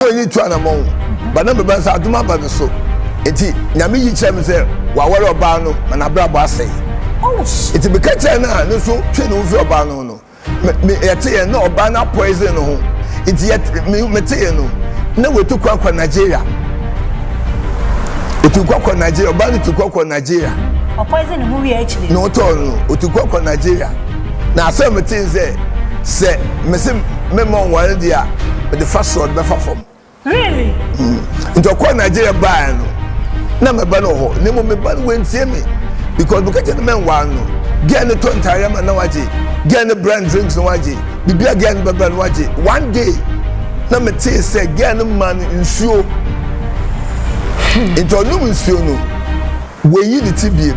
na wɔn ani tu anamɔn ba na meba nsa adom aba me so nti nyame yi kyerɛ me sɛ wɔaware ɔbaa no ma n'abrabɔ asɛe nti meka kyerɛ no a ne nso twe ne ho fi ɔbaa no no yɛteɛ na ɔbaa no apɔɛsen no ho nti meteɛ no na wɔtu kwan kɔ nigeria otu kwan kɔ nigeria ɔbaa no tu kwan kɔ nigeria ɔpɔɛsen ne ho wie akyire na ɔtɔɔ no otu kwan kɔ nigeria na asɛm mete sɛ sɛ mese mɛma ɔnware deɛ a mede fa soro ɔde bɛfa fam. Really? Mm. Nti ɔkɔɔ Nigeria baeɛ no na mɛba no wɔ hɔ na mmom meba no wantie me because meka kyɛ no mɛnware no gɛn ne tɔ ntaare ama na wagye gɛn ne brand drinks na wagye bibia gɛn no bɛbrɛ no wagye one day na metee sɛ gɛn no ma no nsuo hmm. nti ɔnom nsuo no wɔyi ne ti biem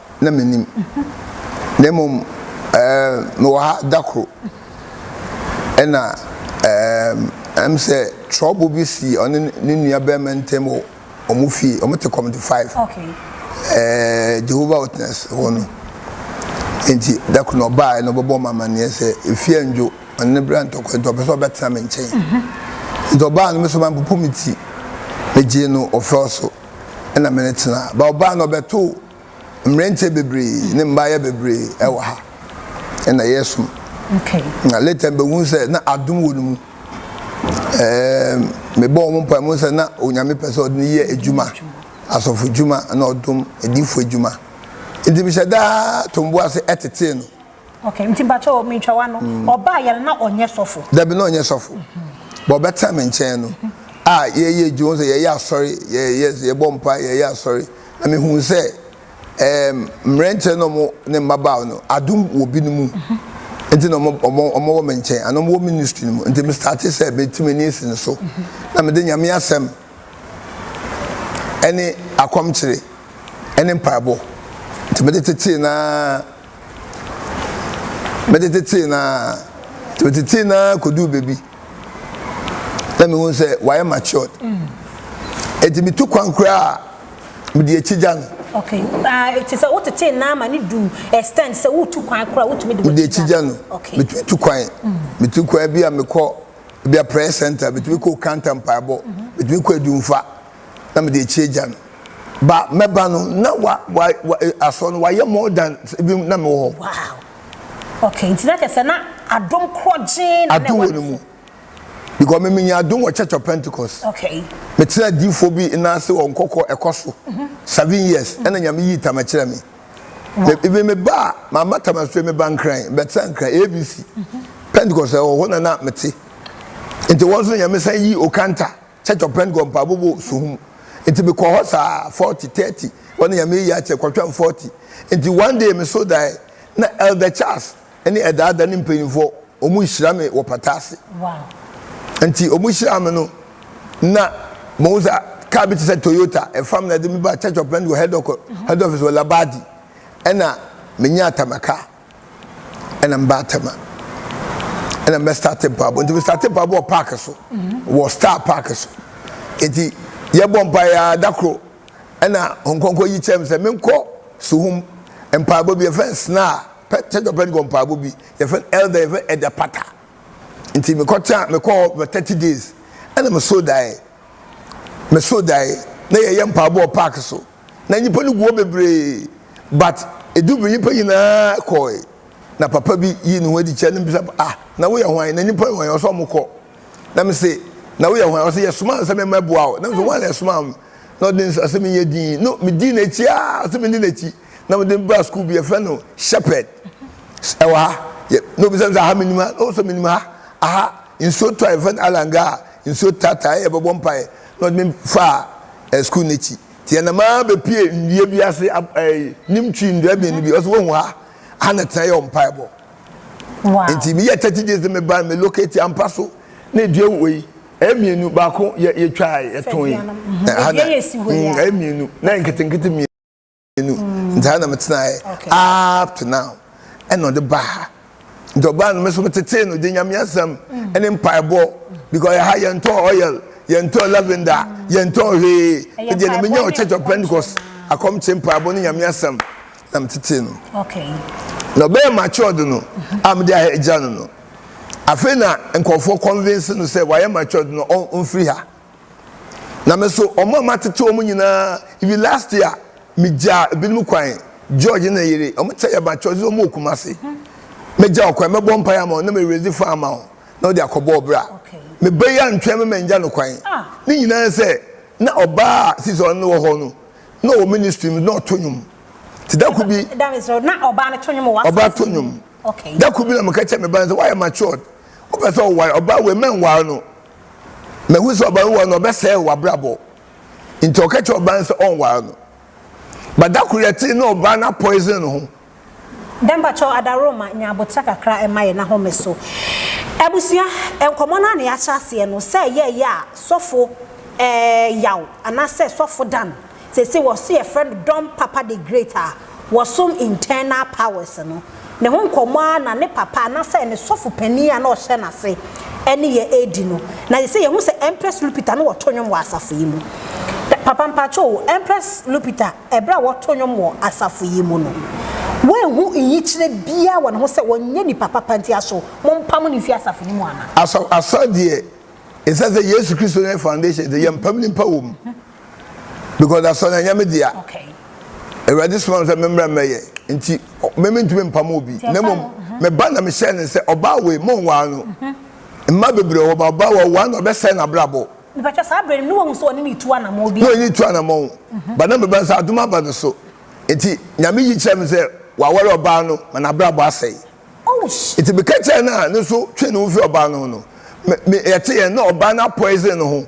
na minnim, na mmom ɛɛ mewɔ ha da koro, ɛna ɛɛ ɛm sɛ trɔbo bi sii ɔne ne nua barima ntam wɔ wɔn fie, wɔn te kɔmiti five, ɛɛ Jehovah Witness hɔ no. Nti da koro na ɔbaeɛ na ɔbɛbɔ me amaneɛ sɛ efie andwo, ɔne ne bra ntɔkwa nti ɔpɛ sɛ ɔbɛtena me nkyɛn. Nti ɔbaa no me so mampopo me ti, megyee no ɔfɛw so. na me ne tena. Ba ɔbaa no ɔbɛto mmeranteɛ bebree ne mmaayɛ bebree ɛwɔ ha ɛna yɛ som na later mbɛhu sɛ na adom wɔ no mu mebɔ wɔn mpa mu sɛ na onyame pɛ sɛ ɔde ne yɛ adwuma asɔfo adwuma na ɔdom adifo adwuma nti mehyɛ daa tombo ase ɛtetee no Okay, nti mpakyɛ o, mentwa w'ano, mm. ɔbaa yɛn na ɔnyɛ sɔfo? Dabi na ɔnyɛ sɔfo. Bɔ ɔbɛtena me nkyɛn no, a yɛyɛ adwuma sɛ yɛyɛ asɔre, yɛbɔ mpa, yɛyɛ asɔre. Na mehu sɛ ɛɛm mmerɛnkyɛ na ɔmo ne mmabaawa no, adum wɔ bi no mu. Mm-hmm. Nti na ɔmo ɔmo ɔmo wɔ me nkyɛn, ana ɔmo wɔ ministry no mu. Nti me starte sɛ meti m'ani esi no so. Mm-hmm. Na mede nyame asɛm ɛne akɔmkyere ɛne mpaebɔ. Nti mede tetee naa Metetetee no ara, metetee no ara koduu baabi na mehuu sɛ wayɛ matured. Enti mitu kwan koraa a, mede akyi gya no. Okay. Uh, it is a what it na ma ni du extend sɛ wotu kwan koraa wotumi de wɔn akyi gya no. Okay. Metumi tu kwan. Metu mm. kwan bi a mekɔ bi a prayer center, metumi kɔ kanta mpaebɔ, metumi kɔ adumfa. na mede akyi agya no ba mɛba no na wa wa wa eh, asɔ no wayɛ more than ebi na mewɔ hɔ. wow okay nti na kyerɛ na adom korɔgyee na adom wɔ ne mu because me menya adom wɔ church of pentecost okay mekyerɛ adiifoɔ bi nnaase wɔ nkɔkɔ ɛkɔ so mhm. seven years ɛna nyame yii tam kyerɛ me ebi me ba a mama tam asue me ba nkran bɛtena nkran abc mhm. pentecost ɛwɔ hɔ na na mete nti wɔn nso nyame san yi okanta Church of Pentagon mpaabɔ wɔ Soho mu nti me kɔ hɔ saa forty thirty hɔ no Nyame ayi akyɛ kɔ twɛn forty nti one day me so daɛ na Elder Charles ɛne Ɛdaa da ne mpanyinfoɔ ɔmo nhyira me wɔ pata ase nti ɔmo hyiraa me no na mo ho sɛ car bi te sɛ Toyota ɛfam na ɛde me ba Church of Pentagon head office wɔ Labadi ɛna me nyaa Tamaka. ɛna mba atɛma ɛna mbɛ start mpaabɔ nti mi start mpaabɔ wɔ park so wɔ star park so nti yɛ bɔ mpa yɛ adakoro ɛna nkɔnkɔ yi kyɛm sɛ menkɔ suhum mpaabɔ bi yɛfɛ nsena pɛ kyɛjɔ pɛ nkɔ mpaabɔ bi yɛfɛ ɛlda yɛfɛ ɛda pata nti mekɔ kyɛn mekɔ hɔ mɛ thirty days ɛna me so dae me so dae na yɛyɛ mpaabɔ wɔ park so Na nyimpa no gu hɔ beberee but edu ber nyimpa nyina kɔe na papa bi yii no ho edzi kyerɛɛ no bisa no ah na woyɛ hwan na nyimpa yɛ hwan ɔse ɔmo kɔ na mese na woyɛ hwan ɔse yɛsomaa me sɛ me mɛboa wo na mese woana ɛsomaa me na ɔde nsa ɔse menyɛ din no medii n'ekyi aa ɔse mendi n'ekyi na mede no baa skuul bi yɛfrɛ no shepherd ɛwɔ ha yɛ na obisa me sɛ aha menim ha na ɔse menim ha aha nsuo tɔ a yɛfrɛ no alanga a nsuo taataa yɛ yɛbɛbɔ mpae na ɔde me faa eh, skuul n'ekyi Nti ɛnam ara bɛpue nnua bi ase, nim twi nnua abien no bi, ɔsɛ woahu ha, ha na tena yɛ ɔmpaebɔ. Nti meyɛ 30 days no meba no me locate ampa so na edua wɔ yi, ɛyɛ mmienu, baako yɛtwaa yɛtɔn yi, ha na ɛyɛ mmienu, na ɛyɛ nketenkete mmienu, nti ha na metenaeɛ up to now, ɛna ɔde baa ha. nti ɔbaa no me nso metetee no de nyame asɛm ne mpaebɔ because ɛha yɛntɔn oil yɛntɔn lavender yɛntɔn hwee ɛdeɛ na menya wɔ church of pentecost akɔmkye mpaebɔ ne nyame asɛm na metetee no na ɔbɛyɛ matured no mhm. a mede agya no no afei na nkurɔfoɔ convince no sɛ wayɛ matured no ɔmfiri ha Na me nso, wɔn a matete wɔn nyinaa, even last year, migyaa ebinom kwan, George ne ne yere, wɔkyɛ yɛ ba church, wɔn wɔ Kumasi. Mɛgya wo kwan, mɛbɔ mpaeɛ ama wo, na me raise fund ama wo, na wode akɔbɔ ɔbra. Meba yi antwɛn me mangya no kwan. Ne nyinaa ne sɛ, na ɔbaa a sisi a ɔne no wɔ hɔ no, na ɔwɔ ministry mu, na ɔto nnwom. Nti da koro bi, ɔbaa to nnwom. Da koro bi na meka kyerɛɛ me ba no sɛ, woayɛ matured, wopɛ sɛ woware, ɔbaa wei, mɛnware no. Mahu sɛ ɔbɛnware no, ɔbɛsɛe w'abrabɔ. Nti ɔka kyerɛ ɔbaa no sɛ ɔnware no. But da koro yɛtee na ɔbaa no apoison ne ho. Dɛ mpakyɛw Adaroma nya aboterɛ kakra mma yɛn ahome so. Abusua, nkɔmmɔ no ara na yɛahyɛ aseɛ no, sɛ ɛyɛɛyɛ a sɔfo eh, Yaw, anaasɛ sɔfo Dan, sese wɔ so yɛfrɛ no Don Papa the Great a wɔsom Internal Powers no, ne ho nkɔmmɔ ara na ne papa anasɛ ne sɔfo panin a na ɔhyɛ n'ase ne yɛ redi no. Na sese yɛhu sɛ Empress Lupita no wɔto nnwom wɔ asafo yi mu. Papa mpakyɛw o, Empress Lupita ɛberɛ a wɔto nnwom wɔ asafo yi mu no, woanhu nyikyerɛ biara wɔ ne ho sɛ ɔnyɛ nipa papa nti aso mompam no mfi asafo no mu anaa? Asɔ, asɔ deɛ, ɛsiane sɛ Yesu Kristo ne Foundation nti, yɛmpam nipa wɔ mu. because asɔre no ɛnyɛ me dea awurade soma me sɛ memmra mmɛyɛ nti me mentumi mpam obi na mmom mhm. meba na mehyɛ ne sɛ ɔbaa wei monwaa no mhm. mma bebree wɔ ba ɔbaa wɔ waa na ɔbɛsɛe n'abrabɔ mepɛtwa saa berɛ no ne wahu sɛ ɔne ne tu anamɔ bi na ɔne tu anamɔ mhm. ba na meba sɛ adom aba no so nti nyame yi kyerɛ me sɛ waware ɔbaa no ma n'abrabɔ asɛe oh, nti meka kyerɛ no a ne so twe ne ho fi ɔbaa no ho no yɛte yɛn na ɔbaa no apoison no ho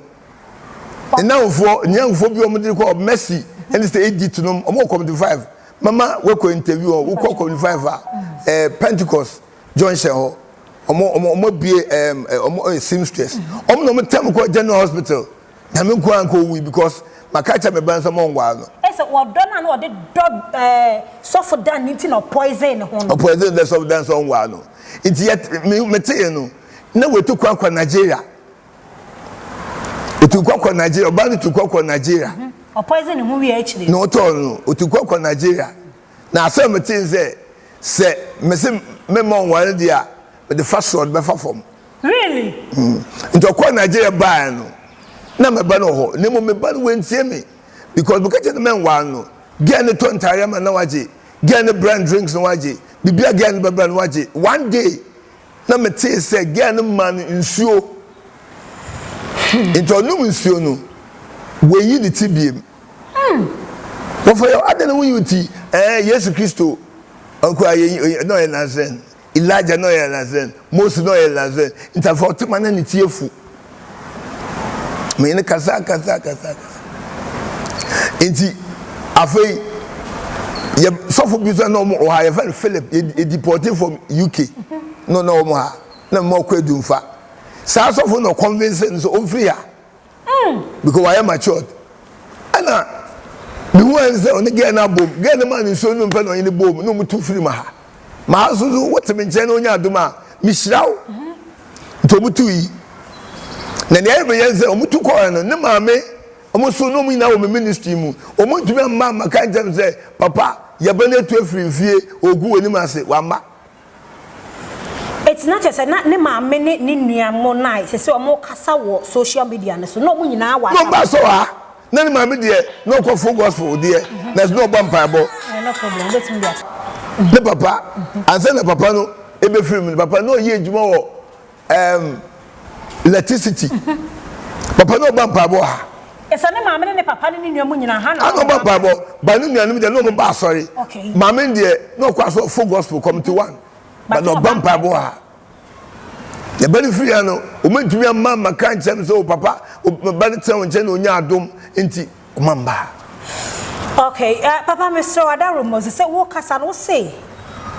Nnamfoɔ, nyɛ nkurɔfoɔ bi a wɔde rekɔ Mercy ɛne sɛ Egypt nom, wɔn wɔ community five, mɛma wɔkɔ interview wɔn, wokɔ community five a, ɛɛ eh, Pentecost junction hɔ, wɔn wɔn abue ɛɛm eh, wɔn ɛɛ eh, seamstress, wɔn na wɔn tɛm kɔ general hospital, nyame nko ara nka owui because maka kyɛ mɛ ban sɛ wɔn nwaa no. Ɛsɛ wɔdɔ no a na wɔde dɔ ɛɛ sɔfo dan ne ti na ɔpoison ne ho no. Ɔpoison dɛ sɔfo dan sɛ wɔn nwaa no, nti yɛ mete yɛ no na wɔatu kwan kɔ Nigeria. Otukwa kɔ Nigeria, ɔbaa no tukwa kɔ Nigeria. Mhm. Ɔpoison ne ho wie akyire. Na ɔtɔɔ no, otukwa kɔ Nigeria. Na asɛm me tee sɛ, sɛ mese memma ɔnware deɛ a, mede fa soro ɔde bɛfa fam. Really? Mm. Nti ɔkɔɔ Nigeria baaɛ no, na me ba no wɔ hɔ. Na mmom me ba no wantie me. Because meka kyerɛ no mɛnware no. Girl no tɔ ntaareɛ ma no na wagye. Girl no bra no drinks no wagye. Biribiara girl no bɛbra no wagye. One day, na metee sɛ girl no maa no nsuo nti ɔnom nsuo no wayi ne ti biem wɔfɔ yɛ adɛn na woyi wo ti ɛɛ yesu kristo ɔkura yɛ na ɔyɛ nasɛn elijah na ɔyɛ nasɛn mose na ɔyɛ nasɛn nti afɔ ɔtema na ne ti efu. Me ne kasa kasa kasa kasa. Nti afei yɛ sɔfo bi sɛ na wɔn wɔ ha yɛ fɛn Philip edi pɔte from UK na na wɔn ha na mma ɔkɔ edumfa. Saa sɔfo na ɔkɔnvinse no sɛ ɔmfiri ha hmm. because wayɛ matured. Ɛna mehu ayɛ sɛ ɔne gɛɛ no abom gɛɛ no maa ne nsuo no mpɛ na ɔne ne bom na wɔn tu firi ma ha. maa so so wote me nkyɛn na onya adom a mehyira wo nti ɔmo tu yi na nea ɛyɛ bɛyɛ sɛ ɔmo tu kɔɛ no ne maame ɔmo so na ɔmo nyinaa wɔ me ministry mu ɔmo ntumi amma amma ka nkyɛn sɛ papa yɛbɛ no etu efiri nfie ogu wɔ anim ase wamma. Eti na kyerɛ sɛ na ne maame ne ne nua mo na sɛ sɛ ɔmo kasa wɔ social media no so na ɔmo nyinaa wɔ aka. Mo ba sɔ ha. na ne maame deɛ na ɔkɔ full gospel deɛ na ɛsɛ na ɔbɔ mpaebɔ ne papa ansa na papa no ebe firi mu ne papa na ɔyɛ adwuma wɔ ɛɛm electricity papa na ɔbɔ mpaebɔ ha. Ɛsɛ ne maame ne ne papa ne ne nua mu nyinaa ha na ɔbɔ mpaebɔ ba ne nuanom deɛ na ɔmo ba asɔre maame deɛ na ɔkɔ asɔ full gospel committee one ba na ɔbɔ mpaebɔ ha. Na ba no firi ha no, wɔantumi amma ammɛka ankyerɛ me sɛ, 'O papa, wo ba no tena wo nkyɛn na ɔnya adom, enti koma mma ha. Okay, eh, papa mesrɛ wo, Ada Romozi, sɛ worekasa no wose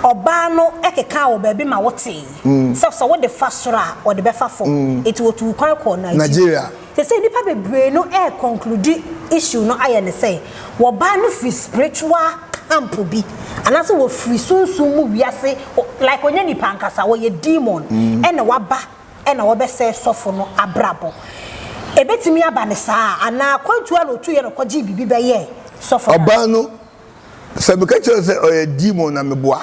ɔbaa no kekaa wɔ baabi ma wotee sɛ sɛ wode fa soro a ɔde bɛfa fam, enti wɔtuu kwan kɔɔ Nigeria. Sesei nipa bebree no ɛɛ conclude issue no ayɛ no sɛ wɔ baa no firi spiritual camp bi anaasɛ wɔ firi sunsum mu wiase like ɔnyɛ nipa ankasa ɔyɛ demon ɛna waba ɛna ɔbɛsɛɛ sɔfo no abrabɔ ɛbɛtumi aba no saa anaa kwantuo a na ɔtuiɛ na ɔkɔgyee biribi bɛyɛɛ sɔfo no. Ɔbaa no Sɛ meka kyerɛ wo sɛ ɔyɛ demon na meboa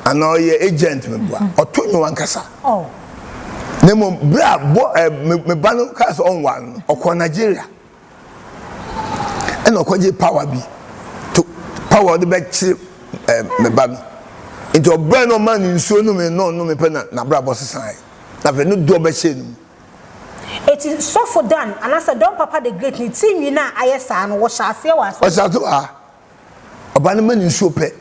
anaa ɔyɛ agent meboa, ɔto nnwom ankasa. Na mmom berɛ a bɔ ɛ me ba no kaa sɛ ɔnware no, ɔkɔɔ Nigeria ɛna ɔkɔgye power bi to power ɔde bɛkyere ɛ me ba no. Nti ɔbrɛ na ɔmaa no nsuo nome na ɔnome pɛ na n'abrabɔ sesaeɛ. Na afei ne dɔ bɛhyɛɛ ne mu. Eti Sɔfo Dan, anaasɛ Don Papa the Great ne ti nwi no a ayɛ saa no, wɔhyɛ aseɛ wɔ asɔre. Ɔsate wɔ ha. Ɔba no ma no nsuo pɛ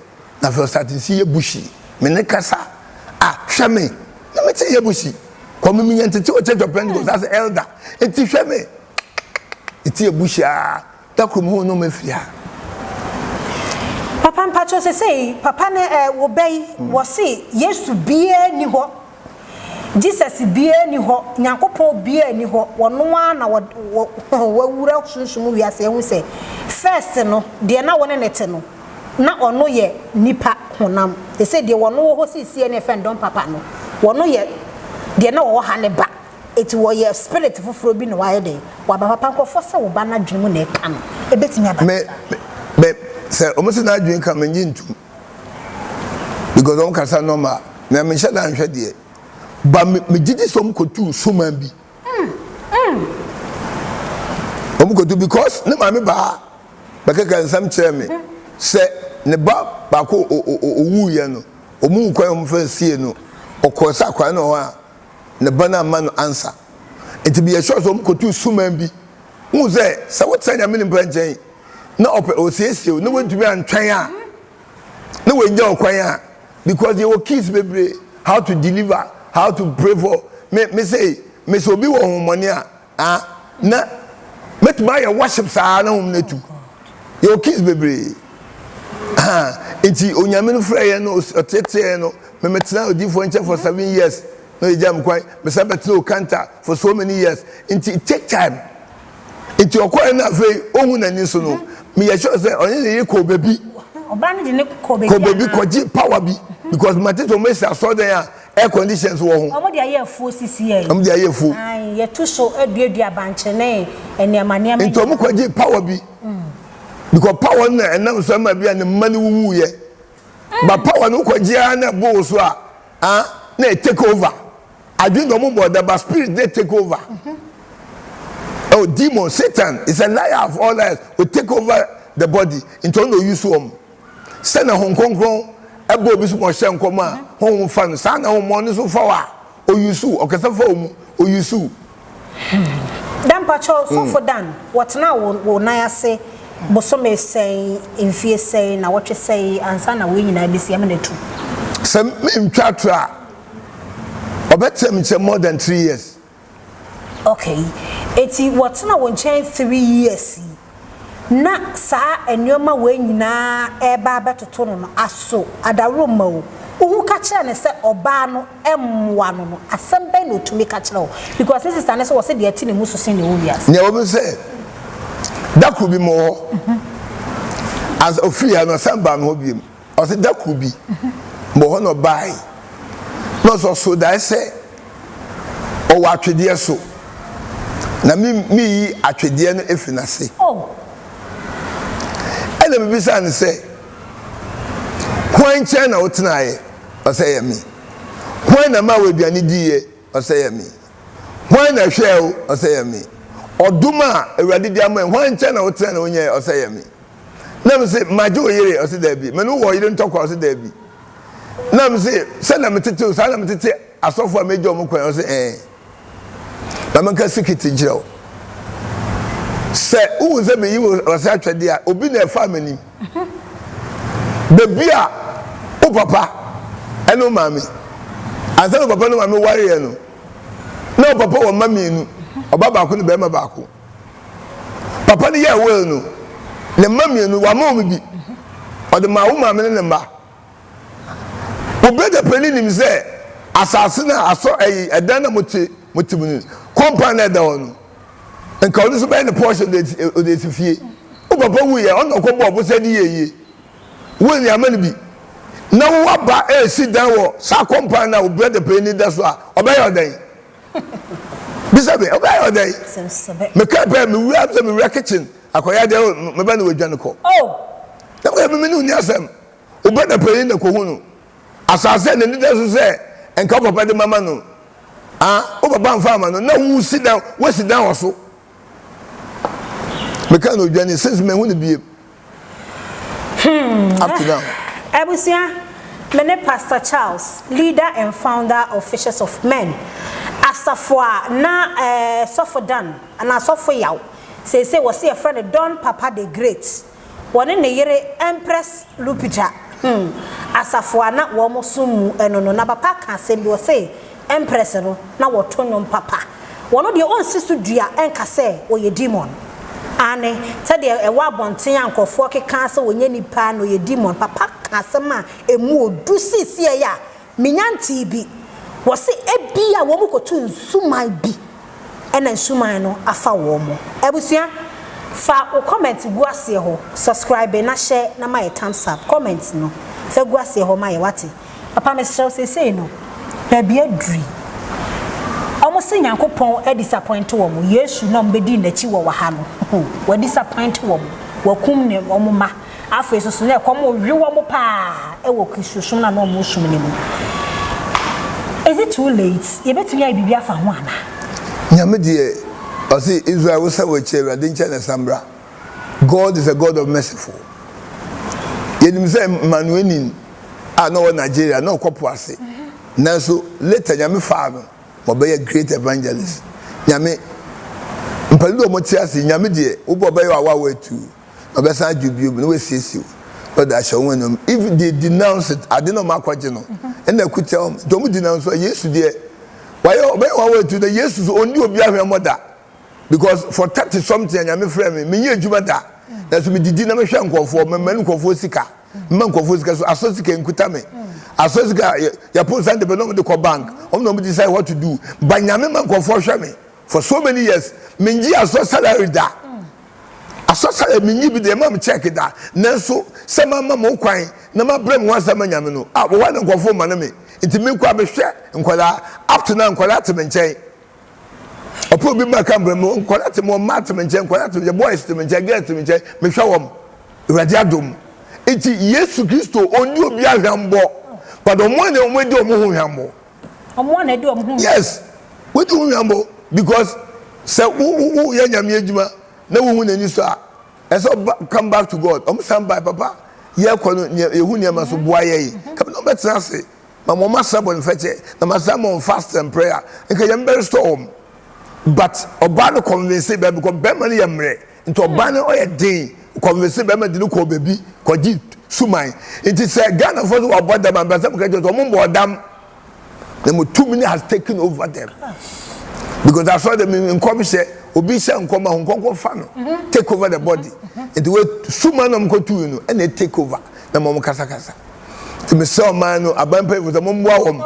na afei ɔsate nsi yɛ bushi. Me ne kasa a, hwɛ me, na me ti yɛ bushi. Kɔ me menya ntete wɔ Church of Pentecost ase, Elder, enti hwɛ me, me ti yɛ bushi aa. Da koro mu na ɔmo afiri ha. Papa mpakyɛw sesei papa ne eh wo bɛ yi wɔ se yesu biaa nni hɔ Jesus biaa nni hɔ nyankopɔn biaa nni hɔ wɔ no ara na wɔ wɔ hɔn wɔ awura sunsum wiase ahu sɛ first no deɛ na wo ne no te no na ɔno yɛ nipa honam sesei deɛ wɔ no wɔ hɔ sesie ne yɛfrɛ no dɔn papa no wɔ no yɛ deɛ na ɔwɔ ha ne ba. Enti wɔyɛ spirit foforɔ bi na wayɛ dɛn? Waba papa nkorɔfoɔ sɛ wo ba no adwene mu na ɛka no. Ɛbɛtumi aba no saa. Me me me sɛ wɔn sɛ n'adwene ka me ngye ntum because wɔn kasa normal na me nhyɛ da nhwɛ deɛ but me me gyidi sɛ wɔn kɔtu nsuman bi. Wɔn kɔtu because ne maame baa bɛkɛkɛ nsɛm kyerɛ me sɛ ne ba baako o o o owuiɛ no wɔn wukwan wɔn fɛn sie no ɔkɔɔ sɛ akwadaa no wɔ hɔ a. ne ba no amma no ansa. Enti meyɛɛ sure sɛ wɔkɔtuu suman bi. Wohu sɛ, sɛ wotra Nyame nipa nkyɛn na ɔpɛ ɔsiesie wo na woantumi antwɛn a, na wanya wo kwan a, because yɛwɔ keys bebree, how to deliver, how to pray for, me, me say, me sɛ obi wɔ honhommɔne a, Ah na mɛtumi ayɛ worship saa na wɔn natu yɛwɔ keys bebree ha nti onyame no frɛ yɛn no ɔteteɛ yɛn no memetena odiifoɔ nkyɛn for seven years na ɔyɛgya me kwan mesa bɛtena okanta for so many years nti it take time nti ɔkɔɛ no afei ɔhu n'ani so no meyɛ sure sɛ ɔne ne yere kɔɔ baabi kɔ baabi kɔgye power bi because matete ɔmɛsi asɔɔdɛn a Air condition nso wɔ ho. Wɔn de ayɛ afuo sisi yɛn. Wɔn de ayɛ afuo. Ae, yɛtu so duadua abankye ne nneɛma nneɛma nyinaa. Nti wɔn kɔgye power bi. Because power no na ɛnam so ɛma bi a ne mma no wuwu yɛ. Ba power no wokɔgye ara na ɛbo wo so a, ah, na ɛ take over. Adwene deɛ wɔn bɔ da ba spirit na ɛ take over. Oh, demon, Satan is a liar of all liars. O take over the body. Nti ɔno na ɔuse wɔn. Sɛ na Hom Krɔnkrɔn bɔ obi so ma ɔhyɛ nkɔm a, honhom fa no, saa ara na ahohommɔne nso fa wo a, oyusu wo, ɔkasa fa wo mu, oyusu wo. Dan, mpakyɛw, Sɔfo Dan, wɔtsenaa wo wo nan ase bosome sɛn, mfie sɛn, nawɔtwe sɛn ansa na wei nyinaa besi? Yɛma no etu. Sɛ menntwa atorɔ a, ɔbɛtseam kyɛ more than three years. Okay enti wɔtena wo nkyɛn three years yi na saa nnoɔma wei nyinaa ɛreba abɛtoto no no aso adaworo mma wo? Wo ho ka kyerɛ no sɛ ɔbaa no mmoa no no asɛm bɛn na ɔtumi ka kyerɛ wo because ne sister no nso wɔse deɛ ɛte ne mu so sen deɛ ɛwɔ wiase. Nea ɛwɔ mu ne sɛ da koro bi mewɔ hɔ as ɔfirii ha no ɔsan baa me hɔ biom. Ɔse da kor bi mowɔ hɔ na ɔbae na ɔse ɔsor dae sɛ ɔwɔ atwedeɛ so na me meyi atwedeɛ no efiri n'ase. Ɛna mebisaa no sɛ hwan nkyɛn na wotenaeɛ? Ɔse ɛyɛ me. Hwan na maa wo aduane diiɛ? Ɔse ɛyɛ me. Hwan na ɛhwɛɛ wo? Ɔse ɛyɛ me. Ɔdom a Awurade de ama yi hwan nkyɛn na wotenae na wonyɛɛ? Ɔse ɛyɛ me. Na me se, Magye wo yere? Ɔse, Daabi. Me ne wo wɔ yere ntɔkwa? Ɔse, Daabi. Na me se, Sɛnea metete wo, saa na metete asɔfo a megye wɔn kwan. Ɔse, Ee. Ma menka sikiti nkyerɛ wo. Sɛ wohu sɛ meyi wo ase atwɛdeɛ a, obi na ɛfaa m'anim. Baabi a wo papa ne wo maame, ansa na wo papa ne wo maame wareɛ no, na wo papa wɔ mma mmienu, ɔbaa baako ne barima baako. Papa no yɛɛ will no, ne mma mmienu, wama wɔn bi. Ɔde maa wo maame ne ne mma. Wo brɛda panin nim sɛ asase no a asɔ ɛyi ɛdan na mote mote mu no, kɔmpan na ɛda hɔ no, nka ɔno nso bɛyɛ ne pɔɔhyɛ ɔde asi fie. Wo papa wuiɛ, ɔno na ɔkɔ bɔɔ bo sɛ de yɛ yie. Will no yɛama no bi. Na wo aba resi dan wɔ saa kɔmpan no a wo brɛda panin da so a, ɔbɛyɛ ɔdɛn? bisa me ɔbaa yɛ ɔdɛn mekaa pɛ mewura sɛ mewura kitchen akɔyɛ adɛ oh, meba ne wadwane kɔ ɛmɛ meme ne woni asɛm wobɛ na panyin na kɔhu no asase na nida so sɛ nka papa de mama no ah wo papa mfa ama no na wosi dan wosi dan wɔ so Meka no odwane since mehu no biem hmm. up to now. Abusua, me ne Pastor Charles, leader and founder of Fishers of Men. Asafo a na eh, Sɔfo Dan, anaa Sɔfo Yaw, seesei wɔse yɛfrɛ no Don Papa the Great. Wɔne ne yere Empress Lupita huu asafo a na wɔsom mu no no, na papa ka asɛm bi, ɔse, Empress no, na wɔto nnwom papa. Ɔno deɛ ɔnsi so dua nka sɛ ɔyɛ demon. Aane, sɛdeɛ ɛwɔ abɔnten a nkurɔfoɔ keka sɛ ɔnyɛ nipa na ɔyɛ demon. Papa ka asɛm a ɛmu ɔdu seesei a Menya ntee bi. Wɔse ebia wɔn kɔtu nsuman bi ɛna nsuman no afa wɔn. Abusua fa wo comment gu aseɛ hɔ, subscribe na hyɛ na ma yɛ thumbs up, comment no fa gu aseɛ hɔ ma yɛ wate. Papa mesrɛ wo seesei no baabi aduri. Wɔn se Nyankopɔn adisapɔinte wɔn, Yesu na wɔn bɛdii nakyi wɔ wɔ ha no, w'adisapɔinte wɔn, wakum ne wɔn mma. Afei nso so, na ɛkɔm rewe wɔn paa wɔ Kristosom no a na wɔresom no mu. Is it too late? Yɛbɛtumi ayɛ biribi afa ho anaa? Nyame deɛ ɔse Israel wo san wakyi Awurade nkyɛn na san bra God is a God of merciful yɛnim sɛ Manuenin a na ɔwɔ Nigeria na ɔkɔ po ase nanso later Nyame faa no ma ɔbɛyɛ great evangelist Nyame mpɛno de ɔmo te ase Nyame deɛ wobɔ ɔbɛyɛ wɔ awawa atuu. Ɔbɛsan adwo bio na wasiesie wo na ɔde ahyɛ wɔn anuam. If they denounce it, ade na wɔn akɔgye no ɛna akutia wɔn. Nti wɔn denounce a, Yesu deɛ wayɛ ɔbɛyɛ wɔn awɔ atu. Na Yesu so ɔndi obi ahwɛmmɔ da because for thirty something a Nyame frɛ me, menyɛ adwuma da. Nanso medidi na mehwɛ nkorɔfoɔ, mema nkorɔfoɔ sika, mema nkorɔfoɔ sika so asɔ sika nkuta me. Asɔ sika, yɛpo Sunday bɛ na wɔn de kɔ bank, wɔn na wɔn decide what to do. But Nyame ma nkorɔfoɔ hwɛ me. for so many years mennye asɔ salary da asɔ salary mennye bi da ɛma me check da nanso sɛ mamma mo kwan na mabrɛ me ho ase ama nyame no a wɔwɔ na nkɔfo ma no me nti mekɔ a mehwɛ nkwadaa up to now nkwadaa te me nkyɛn ɔpɛ obi ma ka mbrɛ me nkwadaa te me wɔn mmaa te me nkyɛn nkwadaa te me nkyɛn boys te me nkyɛn girls te me nkyɛn mehwɛ wɔn awurade adom nti yesu kristo ɔnni obi ahwɛmbɔ but wɔn a na wɔn adi wɔn ho hwɛmbɔ Ɔmo a na ɛde ɔmo ho. Yes wodi ho hwɛmbo because sɛ wo wo wo yɛ nyame adwuma na wo hu n'ani so a ɛsɛ ɔba come back to God ɔmo san bae papa yɛ kɔ no neɛ yɛ hu nneɛma so boa yɛ ye ka bi na ɔbɛ tena ase ma ma ɔmo asra bɔne fɛkyɛ na ma san ma ɔmo fast and prayer nka nyame bɛ restore ɔmo but ɔbaa no convince bɛɛ because bɛɛma no yɛ mmerɛ Nti ɔbaa no ɔyɛ den kɔnvese bɛrima de no kɔɔ baabi kɔgye suman. Nti sɛ Ghanafoɔ sɛ wɔabɔ dam a, mepɛ sɛ meka kyerɛ sɛ wɔmmɔɔ dam na mo tumi no has taken over them because asɔre dɛm no nkɔmhyɛ obi hyɛ nkɔm a honkɔnkɔ fa no take over the body nti wei suman na wɔkɔtui no ɛna take over na ma wɔn kasakasa nti mesrɛ ɔman no aban mpanyinfoɔ sɛ momboa wɔn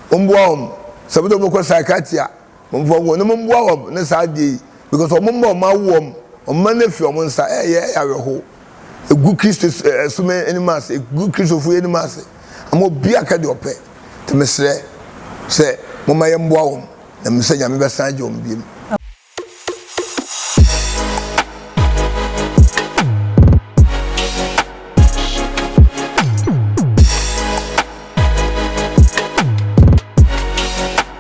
momboa wɔn sɛ bɛtɛ wɔbɛkɔ psychiatry a Momfa hɔnnom mboa hɔn ne saa adze yi, because wɔn mma wɔn awo wɔn, wɔn mma no afi wɔn nsa, ɛyɛ yɛn ayɛwerɛhow, egu Kristo som anim ase, egu Kristofo yi anim ase, ama obi akɛ deɛ ɔpɛ, nti mesrɛ sɛ momma yɛmboa wɔn, na menim sɛ Nyame bɛsan agye wɔn biom.